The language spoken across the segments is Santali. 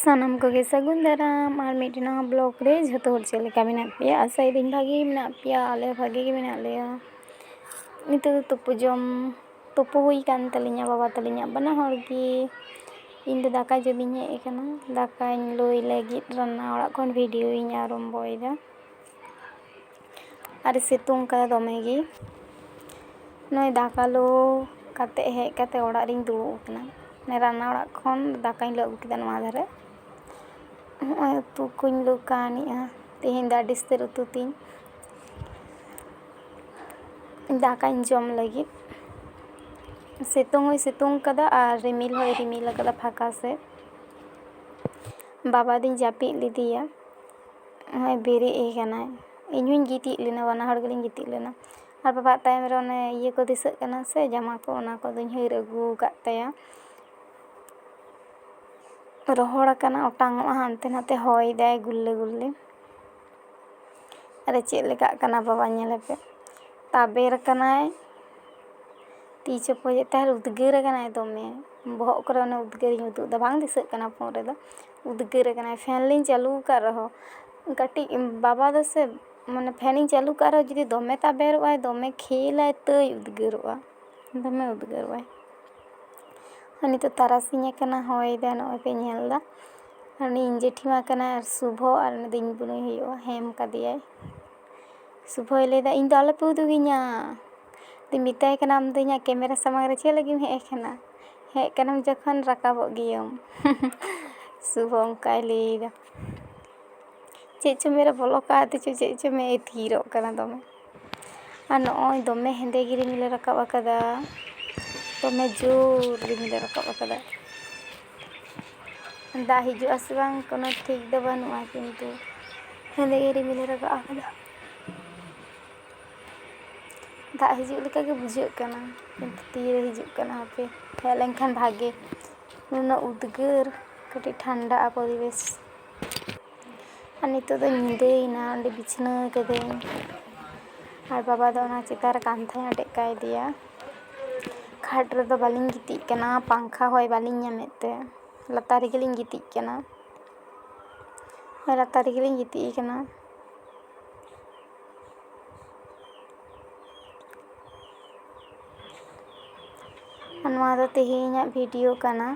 ᱥᱟᱱᱟᱢ ᱠᱚᱜᱮ ᱥᱟᱹᱜᱩᱱ ᱫᱟᱨᱟᱢ ᱟᱨ ᱢᱤᱫᱴᱮᱱ ᱱᱟᱣᱟ ᱵᱞᱚᱜᱽ ᱨᱮ ᱡᱷᱚᱛᱚ ᱦᱚᱲ ᱪᱮᱫ ᱞᱮᱠᱟ ᱢᱮᱱᱟᱜ ᱯᱮᱭᱟ ᱟᱥᱟᱭᱮᱫᱟᱹᱧ ᱵᱷᱟᱜᱮ ᱜᱮ ᱢᱮᱱᱟᱜ ᱯᱮᱭᱟ ᱟᱞᱮ ᱦᱚᱸ ᱵᱷᱟᱜᱮ ᱜᱮ ᱢᱮᱱᱟᱜ ᱞᱮᱭᱟ ᱱᱤᱛᱚᱜ ᱫᱚ ᱛᱩᱯᱩ ᱡᱚᱢ ᱛᱩᱯᱩ ᱦᱩᱭ ᱠᱟᱱ ᱛᱟᱹᱞᱤᱧᱟ ᱵᱟᱵᱟ ᱛᱟᱹᱞᱤᱧᱟᱜ ᱵᱟᱱᱟ ᱦᱚᱲ ᱜᱮ ᱤᱧ ᱫᱚ ᱫᱟᱠᱟ ᱡᱚᱢ ᱤᱧ ᱦᱮᱡ ᱟᱠᱟᱱᱟ ᱫᱟᱠᱟᱧ ᱞᱩᱭ ᱞᱟᱹᱜᱤᱫ ᱨᱟᱱᱱᱟ ᱚᱲᱟᱜ ᱠᱷᱚᱱ ᱵᱷᱤᱰᱤᱭᱳ ᱤᱧ ᱟᱨᱚᱢᱵᱚᱭᱮᱫᱟ ᱟᱨᱮ ᱥᱤᱛᱩᱝ ᱠᱟᱫᱟ ᱫᱚᱢᱮ ᱜᱮ ᱱᱚᱜᱼᱚᱭ ᱫᱟᱠᱟ ᱞᱩ ᱠᱟᱛᱮ ᱦᱮᱡ ᱠᱟᱛᱮ ᱚᱲᱟᱜ ᱨᱮᱧ ᱫᱩᱲᱩᱵ ᱟᱠᱟᱱᱟ ᱢᱟᱱᱮ ᱨᱟᱱᱱᱟ ᱚᱲᱟᱜ ᱠᱷᱚᱱ ᱫᱟᱠᱟᱧ ᱞᱩ ᱟᱹᱜᱩ ᱠᱮᱫᱟ ᱱᱚᱣᱟ ᱫᱷᱟᱨᱮ ᱱᱚᱜᱼᱚᱭ ᱩᱛᱩ ᱠᱚᱧ ᱞᱩ ᱠᱟᱹᱣᱱᱤᱜᱼᱟ ᱛᱮᱦᱮᱧ ᱫᱚ ᱟᱹᱰᱤ ᱩᱥᱛᱟᱹᱨ ᱩᱛᱩ ᱛᱤᱧ ᱫᱟᱠᱟᱧ ᱡᱚᱢ ᱞᱟᱹᱜᱤᱫ ᱥᱤᱛᱩᱝ ᱦᱚᱸᱭ ᱥᱤᱛᱩᱝ ᱠᱟᱫᱟ ᱟᱨ ᱨᱤᱢᱤᱞ ᱦᱚᱸᱭ ᱨᱤᱢᱤᱞ ᱠᱟᱫᱟ ᱯᱷᱟᱸᱠᱟ ᱥᱮᱫ ᱵᱟᱵᱟ ᱫᱩᱧ ᱡᱟᱹᱯᱤᱫ ᱞᱮᱫᱮᱭᱟ ᱱᱚᱜᱼᱚᱭ ᱵᱮᱨᱮᱫ ᱟᱠᱟᱱᱟᱭ ᱤᱧ ᱦᱚᱸᱧ ᱜᱤᱛᱤᱡ ᱞᱮᱱᱟ ᱵᱟᱱᱟ ᱦᱚᱲ ᱜᱮᱞᱤᱧ ᱜᱤᱛᱤᱡ ᱞᱮᱱᱟ ᱟᱨ ᱵᱟᱵᱟᱣᱟᱜ ᱛᱟᱭᱚᱢ ᱨᱮ ᱚᱱᱮ ᱤᱭᱟᱹ ᱠᱚ ᱫᱤᱥᱟᱹᱜ ᱠᱟᱱᱟ ᱥᱮ ᱡᱟᱢᱟ ᱠᱚ ᱚᱱᱟ ᱠᱚᱫᱚᱧ ᱦᱟᱹᱨ ᱟᱹᱜᱩ ᱟᱠᱟᱫ ᱛᱟᱭᱟ ᱨᱚᱦᱚᱲ ᱟᱠᱟᱱᱟ ᱚᱴᱟᱝ ᱚᱜᱼᱟ ᱦᱟᱱᱛᱮ ᱱᱟᱛᱮ ᱦᱚᱭ ᱫᱟᱭ ᱜᱩᱞᱞᱟᱹ ᱜᱩᱞᱞᱤ ᱟᱨᱮ ᱪᱮᱫ ᱞᱮᱠᱟᱜ ᱠᱟᱱᱟ ᱵᱟᱵᱟ ᱧᱮᱞᱮᱯᱮ ᱛᱟᱵᱮᱨ ᱟᱠᱟᱱᱟᱭ ᱛᱤ ᱪᱚᱯᱚᱡᱮᱫ ᱛᱟᱦᱮᱸᱫ ᱩᱫᱽᱜᱟᱹᱨ ᱟᱠᱟᱱᱟᱭ ᱫᱚᱢᱮ ᱵᱚᱦᱚᱜ ᱠᱚᱨᱮ ᱚᱱᱮ ᱩᱫᱽᱜᱟᱹᱨᱤᱧ ᱩᱫᱩᱜ ᱮᱫᱟ ᱵᱟᱝ ᱫᱤᱥᱟᱹᱜ ᱠᱟᱱᱟ ᱯᱷᱳᱱ ᱨᱮᱫᱚ ᱩᱫᱽᱜᱟᱹᱨᱮ ᱠᱟᱱᱟᱭ ᱯᱷᱮᱱ ᱞᱤᱧ ᱪᱟᱹᱞᱩ ᱟᱠᱟᱫ ᱨᱮᱦᱚᱸ ᱠᱟᱹᱴᱤᱡ ᱵᱟᱵᱟ ᱫᱚᱥᱮ ᱢᱟᱱᱮ ᱯᱷᱮᱱᱤᱧ ᱪᱟᱹᱞᱩ ᱠᱟᱜ ᱨᱮᱦᱚᱸ ᱡᱩᱫᱤ ᱫᱚᱢᱮ ᱛᱟᱵᱮᱨᱚᱜ ᱟᱭ ᱫᱚᱢᱮ ᱠᱷᱮᱞ ᱟᱭ ᱛᱟᱹᱭ ᱩᱫᱽᱜᱟᱹᱨᱚᱜᱼᱟ ᱫᱚᱢᱮ ᱩᱫᱽᱜᱟᱹᱨᱚᱜ ᱟᱭ ᱟᱨ ᱱᱤᱛᱚᱜ ᱛᱟᱨᱟᱥᱤᱧ ᱟᱠᱟᱱᱟ ᱦᱚᱭ ᱫᱟᱭ ᱱᱚᱜᱼᱚᱭ ᱯᱮ ᱧᱮᱞ ᱮᱫᱟ ᱟᱨ ᱩᱱᱤ ᱤᱧ ᱡᱮᱴᱷᱤ ᱢᱟ ᱠᱟᱱᱟᱭ ᱟᱨ ᱥᱩᱵᱷᱚ ᱟᱨ ᱩᱱᱤ ᱫᱚ ᱤᱧ ᱵᱩᱱᱩᱭ ᱦᱩᱭᱩᱜᱼᱟ ᱦᱮᱢ ᱠᱟᱫᱮᱭᱟᱭ ᱥᱩᱵᱷᱚᱭ ᱞᱟᱹᱭᱫᱟ ᱤᱧ ᱫᱚ ᱟᱞᱚᱯᱮ ᱩᱫᱩᱜᱤᱧᱟ ᱟᱫᱚᱧ ᱢᱮᱛᱟᱭ ᱠᱟᱱᱟ ᱟᱢ ᱫᱚ ᱤᱧᱟᱹᱜ ᱠᱮᱢᱮᱨᱟ ᱥᱟᱢᱟᱝ ᱨᱮ ᱪᱮᱫ ᱞᱟᱹᱜᱤᱫ ᱮᱢ ᱦᱮᱡ ᱟᱠᱟᱱᱟ ᱦᱮᱡ ᱠᱟᱱᱟᱢ ᱡᱚᱠᱷᱚᱱ ᱨᱟᱠᱟᱵᱚᱜ ᱜᱤᱭᱟᱹᱢ ᱥᱩᱵᱷᱚ ᱚᱱᱠᱟᱭ ᱞᱟᱹᱭᱫᱟ ᱪᱮᱫ ᱪᱚ ᱢᱮᱫ ᱨᱮ ᱵᱚᱞᱚ ᱠᱟᱣᱫᱮ ᱪᱚ ᱪᱮᱫ ᱪᱚ ᱢᱮᱫ ᱮ ᱛᱷᱤᱨᱚᱜ ᱠᱟᱱᱟ ᱫᱚᱢᱮ ᱟᱨ ᱱᱚᱜᱼᱚᱭ ᱫᱚᱢᱮ ᱦᱮᱸᱫᱮ ᱜᱮ ᱨᱤᱢᱤᱞᱮ ᱨᱟᱠᱟᱵ ᱟᱠᱟᱫᱟ ᱫᱚᱢᱮ ᱡᱳᱨ ᱨᱤᱢᱤᱞᱮ ᱨᱟᱠᱟᱵ ᱟᱠᱟᱫᱟ ᱫᱟᱜ ᱦᱤᱡᱩᱜ ᱟᱥᱮ ᱵᱟᱝ ᱠᱳᱱᱳ ᱴᱷᱤᱠ ᱫᱚ ᱵᱟᱹᱱᱩᱜᱼᱟ ᱠᱤᱱᱛᱩ ᱦᱮᱸᱫᱮ ᱜᱮ ᱨᱤᱢᱤᱞᱮ ᱨᱟᱠᱟᱵ ᱟᱠᱟᱫᱟ ᱫᱟᱜ ᱦᱤᱡᱩᱜ ᱞᱮᱠᱟ ᱜᱮ ᱵᱩᱡᱷᱟᱹᱜ ᱠᱟᱱᱟ ᱠᱤᱱᱛᱩ ᱛᱤᱨᱮ ᱦᱤᱡᱩᱜ ᱠᱟᱱᱟ ᱦᱟᱯᱮ ᱦᱮᱡ ᱞᱮᱱᱠᱷᱟᱱ ᱵᱷᱟᱜᱮ ᱩᱱᱟᱹᱜ ᱩᱫᱽᱜᱟᱹᱨ ᱠᱟᱹᱴᱤᱡ ᱴᱷᱟᱱᱰᱟᱜᱼᱟ ᱯᱚᱨᱤᱵᱮᱥ ᱟᱨ ᱱᱤᱛᱳᱜ ᱫᱚ ᱧᱤᱫᱟᱹᱭᱮᱱᱟ ᱚᱸᱰᱮ ᱵᱤᱪᱷᱱᱟᱹ ᱠᱟᱹᱫᱟᱹᱧ ᱟᱨ ᱵᱟᱵᱟ ᱫᱚ ᱚᱱᱟ ᱪᱮᱛᱟᱱ ᱨᱮ ᱠᱟᱱᱛᱷᱟᱭ ᱟᱴᱮᱫ ᱠᱟᱣᱫᱮᱭᱟ ᱠᱷᱟᱴ ᱨᱮᱫᱚ ᱵᱟᱹᱞᱤᱧ ᱜᱤᱛᱤᱡ ᱠᱟᱱᱟ ᱯᱟᱝᱠᱷᱟ ᱦᱚᱭ ᱵᱟᱹᱞᱤᱧ ᱧᱟᱢᱮᱫ ᱛᱮ ᱞᱟᱛᱟᱨ ᱨᱮᱜᱮᱞᱤᱧ ᱜᱤᱛᱤᱡ ᱠᱟᱱᱟ ᱦᱮᱸ ᱞᱟᱛᱟᱨ ᱨᱮᱜᱮᱞᱤᱧ ᱜᱤᱛᱤᱡ ᱠᱟᱱᱟ ᱱᱚᱣᱟ ᱫᱚ ᱛᱮᱦᱮᱧᱟᱜ ᱵᱷᱤᱰᱤᱭᱳ ᱠᱟᱱᱟ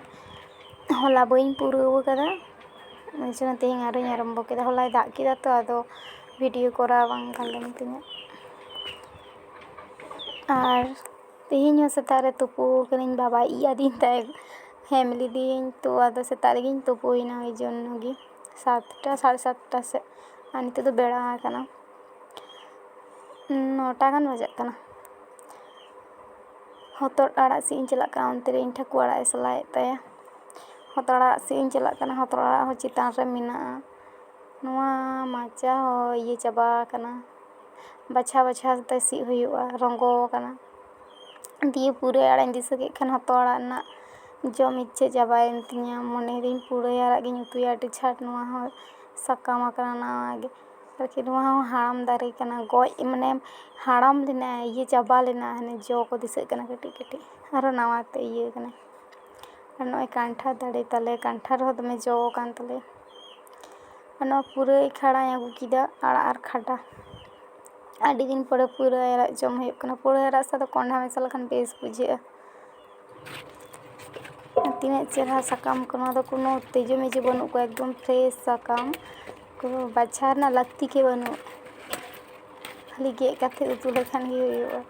ᱦᱚᱞᱟ ᱵᱟᱹᱧ ᱯᱩᱨᱟᱹᱣ ᱟᱠᱟᱫᱟ ᱚᱱᱟ ᱪᱤᱠᱟᱹ ᱛᱮᱦᱮᱧ ᱟᱨᱚᱧ ᱟᱨᱟᱢᱵᱚ ᱠᱮᱫᱟ ᱦᱚᱞᱟᱭ ᱫᱟᱜ ᱠᱮᱫᱟ ᱛᱚ ᱟᱫᱚ ᱵᱷᱤᱰᱤᱭᱳ ᱠᱚᱨᱟᱣ ᱵᱟᱝ ᱜᱟᱱ ᱞᱮᱱ ᱛᱤᱧᱟᱹ ᱟᱨ ᱛᱮᱦᱮᱧ ᱦᱚᱸ ᱥᱮᱛᱟᱜ ᱨᱮ ᱛᱩᱯᱩ ᱠᱟᱹᱱᱟᱹᱧ ᱵᱟᱵᱟᱭ ᱤᱡ ᱟᱹᱫᱤᱧ ᱛᱟᱦᱮᱸᱫ ᱦᱮᱢ ᱞᱤᱫᱤᱭᱟᱹᱧ ᱛᱚ ᱟᱫᱚ ᱥᱮᱛᱟᱜ ᱨᱮᱜᱤᱧ ᱛᱩᱯᱩᱭᱮᱱᱟ ᱳᱭ ᱡᱚᱱᱱᱚ ᱜᱮ ᱥᱟᱛᱴᱟ ᱥᱟᱲᱮ ᱥᱟᱛᱴᱟ ᱥᱮᱫ ᱟᱨ ᱱᱤᱛᱚᱜ ᱫᱚ ᱵᱮᱲᱟ ᱟᱠᱟᱱᱟ ᱱᱚᱴᱟ ᱜᱟᱱ ᱵᱟᱡᱟᱜ ᱠᱟᱱᱟ ᱦᱚᱛᱚᱫ ᱟᱲᱟᱜ ᱥᱤᱫ ᱤᱧ ᱪᱟᱞᱟᱜ ᱠᱟᱱᱟ ᱚᱱᱛᱮᱨᱮ ᱤᱧ ᱴᱷᱟᱹᱠᱩᱨ ᱟᱲᱟᱜ ᱮ ᱥᱟᱞᱟᱭᱮᱫ ᱛᱟᱭᱟ ᱦᱚᱛᱚᱫ ᱟᱲᱟᱜ ᱥᱤᱫ ᱤᱧ ᱪᱟᱞᱟᱜ ᱠᱟᱱᱟ ᱦᱚᱛᱚᱫ ᱟᱲᱟᱜ ᱦᱚᱸ ᱪᱮᱛᱟᱱ ᱨᱮ ᱢᱮᱱᱟᱜᱼᱟ ᱱᱚᱣᱟ ᱢᱟᱪᱟ ᱦᱚᱸ ᱤᱭᱟᱹ ᱪᱟᱵᱟ ᱟᱠᱟᱱᱟ ᱵᱟᱪᱷᱟᱣ ᱵᱟᱪᱷᱟᱣ ᱠᱟᱛᱮᱫ ᱥᱤᱫ ᱦᱩᱭᱩᱜᱼᱟ ᱨᱚᱸᱜᱚ ᱟᱠᱟᱱᱟ ᱫᱤᱭᱮ ᱯᱩᱨᱟᱹᱭ ᱟᱲᱟᱜ ᱤᱧ ᱫᱤᱥᱟᱹ ᱠᱮᱫ ᱠᱷᱟᱱ ᱦᱚᱛᱚᱫ ᱟᱲᱟᱜ ᱨᱮᱱᱟᱜ ᱡᱚᱢ ᱤᱪᱪᱷᱟᱹ ᱪᱟᱵᱟᱭᱮᱱ ᱛᱤᱧᱟᱹ ᱢᱚᱱᱮᱭᱮᱫᱟᱹᱧ ᱯᱩᱨᱟᱹᱭ ᱟᱲᱟᱜ ᱜᱤᱧ ᱩᱛᱩᱭᱟ ᱟᱹᱰᱤ ᱪᱷᱟᱴ ᱱᱚᱣᱟ ᱦᱚᱸ ᱥᱟᱠᱟᱢ ᱟᱠᱟᱱᱟ ᱱᱟᱣᱟ ᱜᱮ ᱟᱨᱠᱤ ᱱᱚᱣᱟ ᱦᱚᱸ ᱦᱟᱲᱟᱢ ᱫᱟᱨᱮ ᱠᱟᱱᱟ ᱜᱚᱡ ᱢᱟᱱᱮ ᱦᱟᱲᱟᱢ ᱞᱮᱱᱟ ᱤᱭᱟᱹ ᱪᱟᱵᱟ ᱞᱮᱱᱟ ᱦᱟᱱᱮ ᱡᱚ ᱠᱚ ᱫᱤᱥᱟᱹᱜ ᱠᱟᱱᱟ ᱠᱟᱹᱴᱤᱡ ᱠᱟᱹᱴᱤᱡ ᱟᱨᱚ ᱱᱟᱣᱟ ᱛᱮ ᱤᱭᱟᱹ ᱠᱟᱱᱟ ᱟᱨ ᱱᱚᱜᱼᱚᱭ ᱠᱟᱱᱴᱷᱟᱲ ᱫᱟᱨᱮ ᱛᱟᱞᱮ ᱠᱟᱱᱴᱷᱟᱲ ᱦᱚᱸ ᱫᱚᱢᱮ ᱡᱚ ᱠᱟᱱ ᱛᱟᱞᱮᱭᱟ ᱟᱨ ᱱᱚᱣᱟ ᱯᱩᱨᱟᱹᱭ ᱠᱷᱟᱲᱟᱧ ᱟᱹᱜᱩ ᱠᱮᱫᱟ ᱟᱲᱟᱜ ᱟᱨ ᱠᱷᱟᱰᱟ ᱟᱹᱰᱤ ᱫᱤᱱ ᱯᱚᱨᱮ ᱯᱩᱨᱟᱹᱭ ᱟᱲᱟᱜ ᱡᱚᱢ ᱦᱩᱭᱩᱜ ᱠᱟᱱᱟ ᱯᱩᱨᱟᱹᱭ ᱟᱲᱟᱜ ᱥᱟᱶᱛᱮ ᱠᱚᱦᱚᱸᱰᱟ ᱢᱮᱥᱟ ᱞᱮᱠᱷᱟᱱ ᱵᱮᱥ ᱵᱩᱡᱷᱟᱹᱜᱼᱟ ᱛᱤᱱᱟᱹᱜ ᱪᱮᱦᱨᱟ ᱥᱟᱠᱟᱢ ᱠᱚ ᱱᱚᱣᱟ ᱫᱚ ᱠᱳᱱᱳ ᱛᱤᱡᱩ ᱢᱤᱡᱩ ᱵᱟᱹᱱᱩᱜ ᱠᱚᱣᱟ ᱮᱠᱫᱚᱢ ᱯᱷᱨᱮᱥ ᱥᱟᱠᱟᱢ ᱠᱳᱱᱳ ᱵᱟᱪᱷᱟᱣ ᱨᱮᱱᱟᱜ ᱞᱟᱹᱠᱛᱤ ᱜᱮ ᱵᱟᱹᱱᱩᱜ ᱠᱷᱟᱹᱞᱤ ᱜᱮᱫ ᱠᱟᱛᱮ ᱩᱛᱩ ᱞᱮᱠᱷᱟᱱ ᱜᱮ ᱦᱩᱭᱩᱜᱼᱟ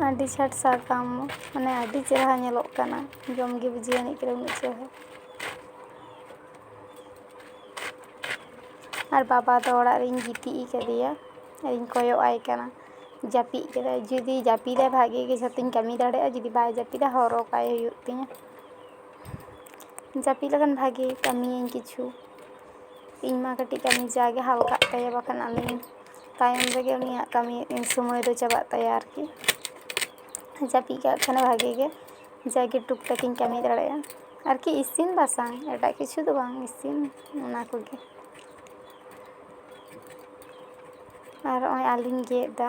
ᱟᱹᱰᱤ ᱪᱷᱟᱴ ᱥᱟᱠᱟᱢ ᱢᱟᱱᱮ ᱟᱹᱰᱤ ᱪᱮᱦᱨᱟ ᱧᱮᱞᱚᱜ ᱠᱟᱱᱟ ᱡᱚᱢᱜᱮ ᱵᱩᱡᱷᱟᱹᱣ ᱟᱹᱱᱤᱡ ᱠᱟᱱᱟ ᱩᱱᱟᱹᱜ ᱪᱮᱦᱨᱟ ᱟᱨ ᱵᱟᱵᱟ ᱫᱚ ᱚᱲᱟᱜ ᱨᱤᱧ ᱜᱤᱛᱤᱡ ᱟᱠᱟᱫᱮᱭᱟ ᱟᱨᱤᱧ ᱠᱚᱭᱚᱜ ᱟᱭ ᱠᱟᱱᱟ ᱡᱟᱹᱯᱤᱫ ᱠᱮᱫᱟᱭ ᱡᱩᱫᱤ ᱡᱟᱹᱯᱤᱫᱟᱭ ᱵᱷᱟᱜᱮ ᱜᱮ ᱡᱷᱚᱛᱚᱧ ᱠᱟᱹᱢᱤ ᱫᱟᱲᱮᱭᱟᱜᱼᱟ ᱡᱩᱫᱤ ᱵᱟᱭ ᱡᱟᱹᱯᱤᱫᱟ ᱦᱚᱨᱦᱚ ᱠᱟᱭ ᱦᱩᱭᱩᱜ ᱛᱤᱧᱟᱹ ᱡᱟᱹᱯᱤᱫ ᱞᱮᱠᱷᱟᱱ ᱵᱷᱟᱜᱮ ᱠᱟᱹᱢᱤᱭᱟᱹᱧ ᱠᱤᱪᱷᱩ ᱤᱧ ᱢᱟ ᱠᱟᱹᱴᱤᱡ ᱠᱟᱹᱢᱤ ᱡᱟᱜᱮ ᱦᱟᱞᱠᱟᱜ ᱛᱟᱭᱟ ᱵᱟᱠᱷᱟᱱ ᱟᱹᱞᱤᱧ ᱛᱟᱭᱚᱢ ᱨᱮᱜᱮ ᱩᱱᱤᱭᱟᱜ ᱠᱟᱹᱢᱤ ᱥᱚᱢᱚᱭ ᱫᱚ ᱪᱟᱵᱟᱜ ᱛᱟᱭᱟ ᱟᱨᱠᱤ ᱡᱟᱹᱯᱤᱫ ᱠᱟᱜ ᱠᱷᱟᱱᱮ ᱵᱷᱟᱜᱮ ᱜᱮ ᱡᱟᱜᱮ ᱴᱩᱠ ᱴᱟᱠ ᱤᱧ ᱠᱟᱹᱢᱤ ᱫᱟᱲᱮᱭᱟᱜᱼᱟ ᱟᱨᱠᱤ ᱤᱥᱤᱱ ᱵᱟᱥᱟᱝ ᱮᱴᱟᱜ ᱠᱤᱪᱷᱩ ᱫᱚ ᱵᱟᱝ ᱤᱥᱤᱱ ᱚᱱᱟ ᱠᱚᱜᱮ ᱟᱨ ᱱᱚᱜᱼᱚᱭ ᱟᱹᱞᱩᱧ ᱜᱮᱫ ᱮᱫᱟ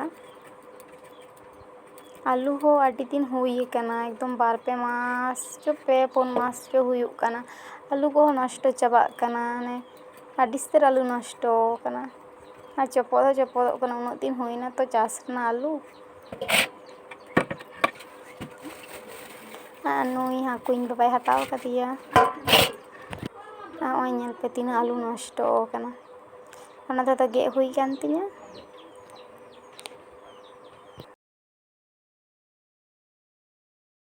ᱟᱹᱞᱩ ᱦᱚᱸ ᱟᱹᱰᱤ ᱫᱤᱱ ᱦᱩᱭ ᱟᱠᱟᱱᱟ ᱮᱠᱫᱚᱢ ᱵᱟᱨ ᱯᱮ ᱢᱟᱥ ᱪᱚ ᱯᱮ ᱯᱩᱱ ᱢᱟᱥ ᱪᱚ ᱦᱩᱭᱩᱜ ᱠᱟᱱᱟ ᱟᱹᱞᱩ ᱠᱚᱦᱚᱸ ᱱᱚᱥᱴᱚ ᱪᱟᱵᱟᱜ ᱠᱟᱱᱟ ᱢᱟᱱᱮ ᱟᱹᱰᱤ ᱩᱥᱛᱟᱹᱨ ᱟᱹᱞᱩ ᱱᱚᱥᱴᱚ ᱟᱠᱟᱱᱟ ᱟᱨ ᱪᱚᱯᱚᱫ ᱦᱚᱸ ᱪᱚᱯᱚᱫᱚᱜ ᱠᱟᱱᱟ ᱩᱱᱟᱹᱜ ᱫᱤᱱ ᱦᱩᱭᱱᱟ ᱛᱚ ᱪᱟᱥ ᱨᱮᱱᱟᱜ ᱟᱹᱞᱩ ᱟᱨ ᱱᱩᱭ ᱦᱟᱹᱠᱩ ᱤᱧ ᱵᱟᱵᱟᱭ ᱦᱟᱛᱟᱣ ᱠᱟᱫᱮᱭᱟ ᱱᱚᱜᱼᱚᱭ ᱧᱮᱞ ᱯᱮ ᱛᱤᱱᱟᱹᱜ ᱟᱹᱞᱩ ᱱᱚᱥᱴᱚ ᱟᱠᱟᱱᱟ ᱚᱱᱟ ᱫᱚ ᱟᱫᱚ ᱜᱮᱫ ᱦᱩᱭ ᱟᱠᱟᱱ ᱛᱤᱧᱟᱹ